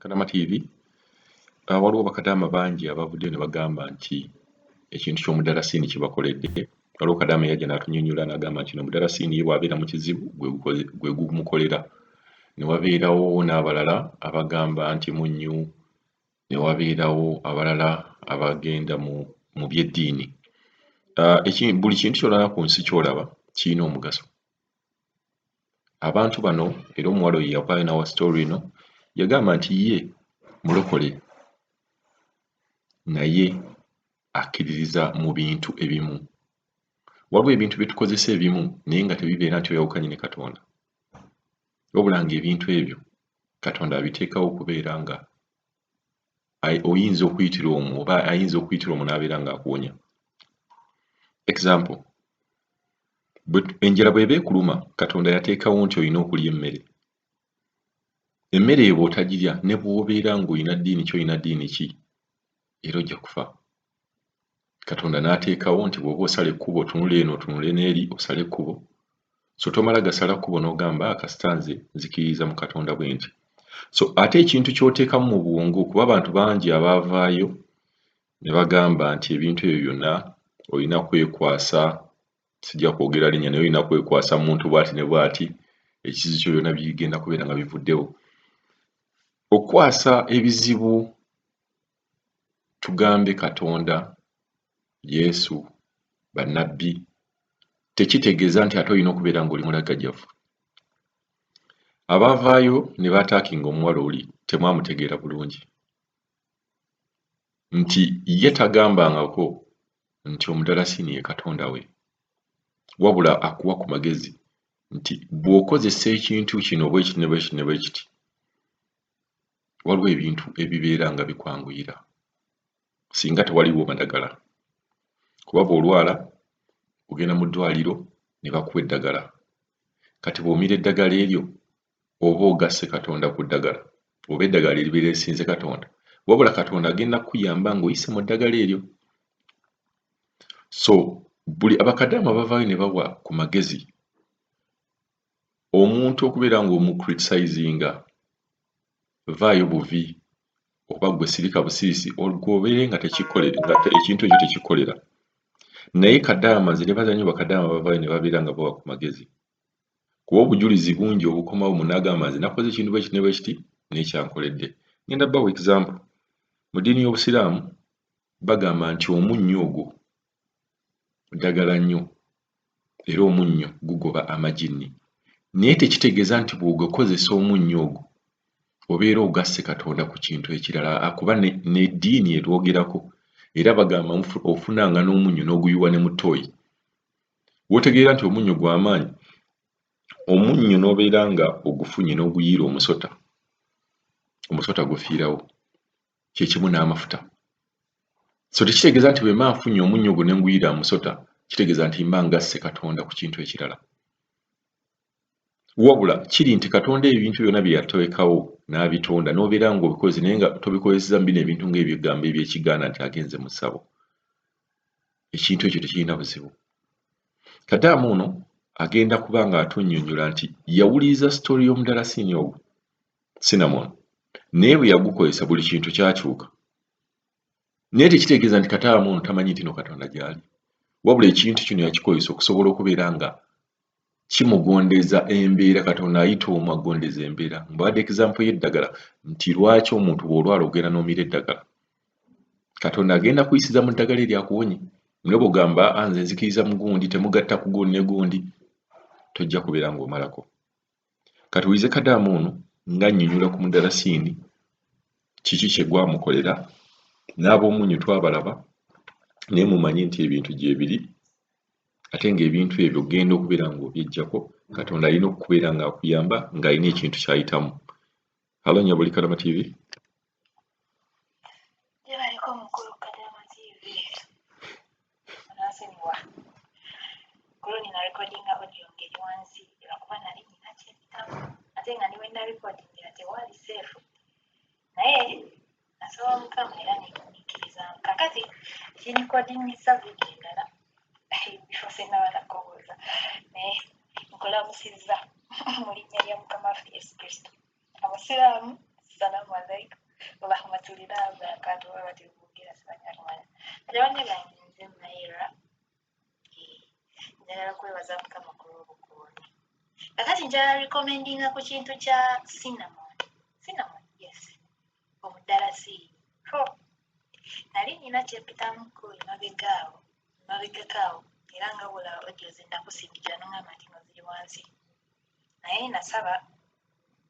Kadama TV ah, waliwo bakadaama bangi abavuddeyo ne bagamba nti ekintu ky'omudarasiini kibakoledde waliwo kadaama yajja n'atunyonyola n'agamba nti no mudarasiini ye bw'abeera mu kizibu gwe gumukolera ne wabeerawo n'abalala abagamba nti munnyu ne wabeerawo abalala abagenda mu mu by'eddiini ah, buli kintu kyolaba ku nsi kyolaba kirina omugaso Abantu bano era omuwala oyo yavaayo n'awa sitoola eno yagamba nti ye mulokole naye akkiririza mu bintu ebimu. Waliwo ebintu bye tukozesa ebimu naye nga tebibeera nti oyawukanye ne Katonda, wabula ng'ebintu ebyo Katonda abiteekawo okubeera nga oyinza okuyitira omu oba ayinza okuyitira omu n'abeera ng'akuwonya example enjala bw'eba ekuluma katonda yateekawo nti olina okulya emmere emmere eyo bw'otagirya ne bw'obeera ng'olina ddiini ki olina ddiini ki era ojja kufa katonda n'ateekawo nti bw'oba osala ekkubo otunula eno otunule n'eri osale ekkubo so tomala gasala kkubo n'ogamba ah, kasita nze nzikiririza mu katonda bwe nti so ate ekintu ky'oteekamu mu bwongo kuba abantu bangi abaavaayo ne bagamba nti ebintu ebyo byonna olina kwekwasa sijja kwogera linnya naye olina kwekwasa muntu bw'ati ne bw'ati ekizibu kyo byonna bigenda kubeera nga bivuddewo okukwasa ebizibu tugambe Katonda, Yesu, bannabbi, tekitegeeza nti ate olina okubeera ng'oli mulagajjavu. Abaavaayo ne baataakinga omuwala oli temwamutegeera bulungi nti ye tagambangako nti omudalasiini ye katonda we wabula akuwa ku magezi nti bw'okozesa ekintu kino bwekiti ne bwekiti ne bwekiti waliwo ebintu ebibeera nga bikwanguyira singa tewaliwo madagala kuba bw'olwala ogenda mu ddwaliro ne bakuwa eddagala kati bw'omira eddagala eryo oba ogasse katonda ku ddagala oba eddagala eribeera esinze katonda wabula katonda agenda kukuyamba ng'oyise mu ddagala eryo so buli abakadaama bavaayo ne bawa ku magezi omuntu okubeera nga omu criticizinga vaayo buvi oba gwe sirika busirisi olwobeere nga tekikolere nga ekintu ekyo tekikolera naye kadaama nze nebaza nyo bakadaama bavaayo ne babeera nga bawa ku magezi kuba obujulizi bungi obukomawo munagamba nze nakoze ekintu bwekiti ne bwekiti nekyankoledde ngenda bawa example mu ddiini y'obusiraamu bagamba nti omunnyo ogwo ddagala nnyo era omunnyo gugoba amaginni naye tekitegeeza nti bw'ogakozesa omunnyo ogwo obeera ogasse Katonda ku kintu ekirala akuba n'eddiini erwogerako era bagamba ofunanga n'omunnyo n'oguyiwa ne mu ttooyi w'otegeera nti omunnyo gwa maanyi omunnyo n'obeera nga ogufunye n'oguyiira omusota omusota gufiirawo. kyekimu n'amafuta so tekitegeeza nti bwemba nfunye omunnyo ogwo nenguyira musota kitegeeza nti mba ngasse katonda ku kintu ekirala wabula kiri nti katonda ebintu byona byeyatowekawo n'abitonda n'obeera nga obikozi naye nga tobikozeseza mubino ebintu ngaebyogambo ebyekigaana nti agenze mu ssabo ekintu ekyo tekirina buzibu kadaama ono agenda kuba nga atunyonyola nti yawuliriza story y'omudalasiini ogwo cinnamon naye bwe yagukozesa buli kintu kyakyuka naye tekitegeeza nti kataama ono tamanyi nti no katonda gyali wabula ekintu kino yakikozesa okusobola okubeera nga kimugondeza embeera katonda ayita omu agondeza embeera mbadde example y'eddagala nti lwaki omuntu bw'olwala ogenda n'omira eddagala katonda agenda kuyisiza mu ddagala eryakuwonye mune bwogamba ah, nze nzikiriza mugundi temugatta kugundi negundi tojja kubeera ng'omalako Kati wulize kadaama ono nga annyonyola ku mudalasiini kiki kye gwamukolera n'ab'omunnyo twabalaba naye mumanye nti ebintu gyebiri ate ng'ebintu ebyo ogenda okubeera ng'obyeggyako katonda alina okubeera ng'akuyamba ng'alina ekintu ky'ayitamu Halo Nyabuli Kadama TV. Jebaliko mukulu Kadama TV. Anasimiwa. Kulo nina recording audio ngeri wansi lwakuba nali nina kyebitamu ate nga niwe na recording nga tewali safe naye Nasaba Mukama era ne nkumikirizaamu. Kakati kirikodingisa vidiyo endala ebifo se naba nakowooza naye nkulamusizza mu linnya lya Mukama waffe Yesu Kristo. Abasiraamu, salaamu alaikum warahmatulillahi wabarakaatuhu bwe batyo boogera sibanyarwanda. Kati banne bange nze Maira njagala kwebaza mukama ku lw'obukuumi kakati njala recommendinga ku kintu kya cinnamon cinnamon yes omudalasi ho nali nina kyepitamuko emabega awo emabegako awo era nga bula odio zinakusindikira nongamba nti no ziri wansi naye nasaba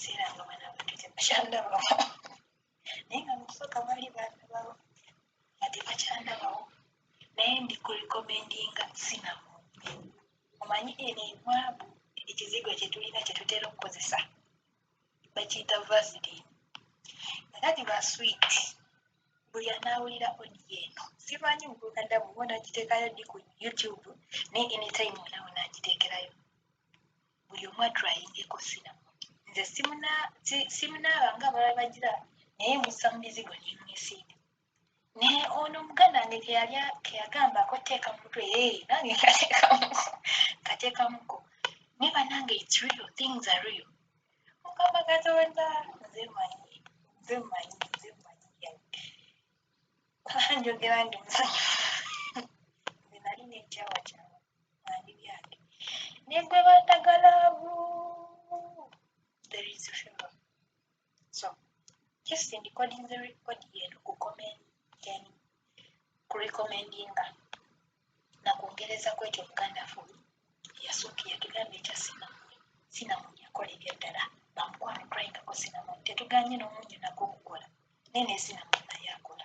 siranga bana bantu tebakyandabawo naye nga mukusooka bali bandabawo nga tebakyandabawo naye ndi ku rekomendinga sinamu omanyi eno ebwabu ekizigo kyetulina kyetutera okukozesa bakiyita vasilin era giba sweet buli anaawulira odi eno simanyi muguganda bwona agiteekayo di ku youtube naye anytime onawo naagiteekerayo buli omu atrayingeko sinamoni nze simunaaba nga abala bagira naye musa mu mizigo nemwesiiga naye ono muganda wange keyalya keyagambako teeka mutwe ee nange kateekamuko kateekamuko naye banange its real things are real mukama katonda nze manyi nze manyi nze manyi njogera ndi musanyufu nze nali nekyawakyawa ani byange ne gwe bandagala there is a film so just in recording the record yenu ku comment then ku recommendinga na kwongereza kwekyo muganda fu yasooka yatugamba ekya sinamuni sinamuni yakola ebyaddala bamukwano cryingako sinamuni tetuganye n'omunyo nagwo okukola naye ne sinamuni naye akola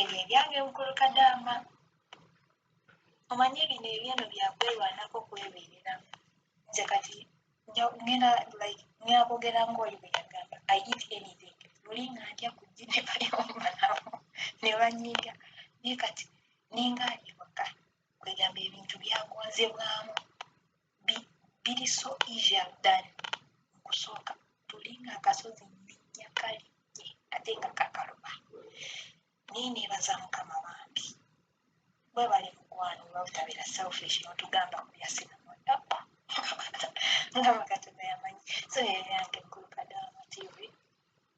Ebyo ebyange mukulu kadaama. Omanyi bino ebyeno byakwerwanako kwebeerera. Nze kati ngenda like ngenda kwogera ng'oli bwe yagamba I eat anything. Luli nga ndya ku ggi ne bali okumanawo ne banyiiga naye kati ninga ali waka kwegamba ebintu byagonzebwamu. biri so easier than okusooka tulinga akasozi nninnya kalinnye ate nga kakaluma naye neebaza mukama bambi webale mukwano oba butabera selfish notugamba kuyasinamodapa nga bakatonda yamanyi so yeyange nkulu kadaama tv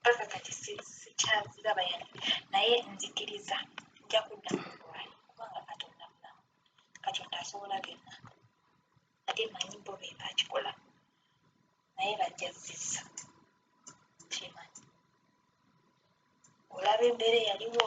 mpaka kati sikyaziraba yali naye nzikiriza nja kudda mu bulwali kubanga katonda mulamu katonda asobola byonna ate manyi bo be bakikola naye bajja zizza kyemanyi olaba embeera eyaliwo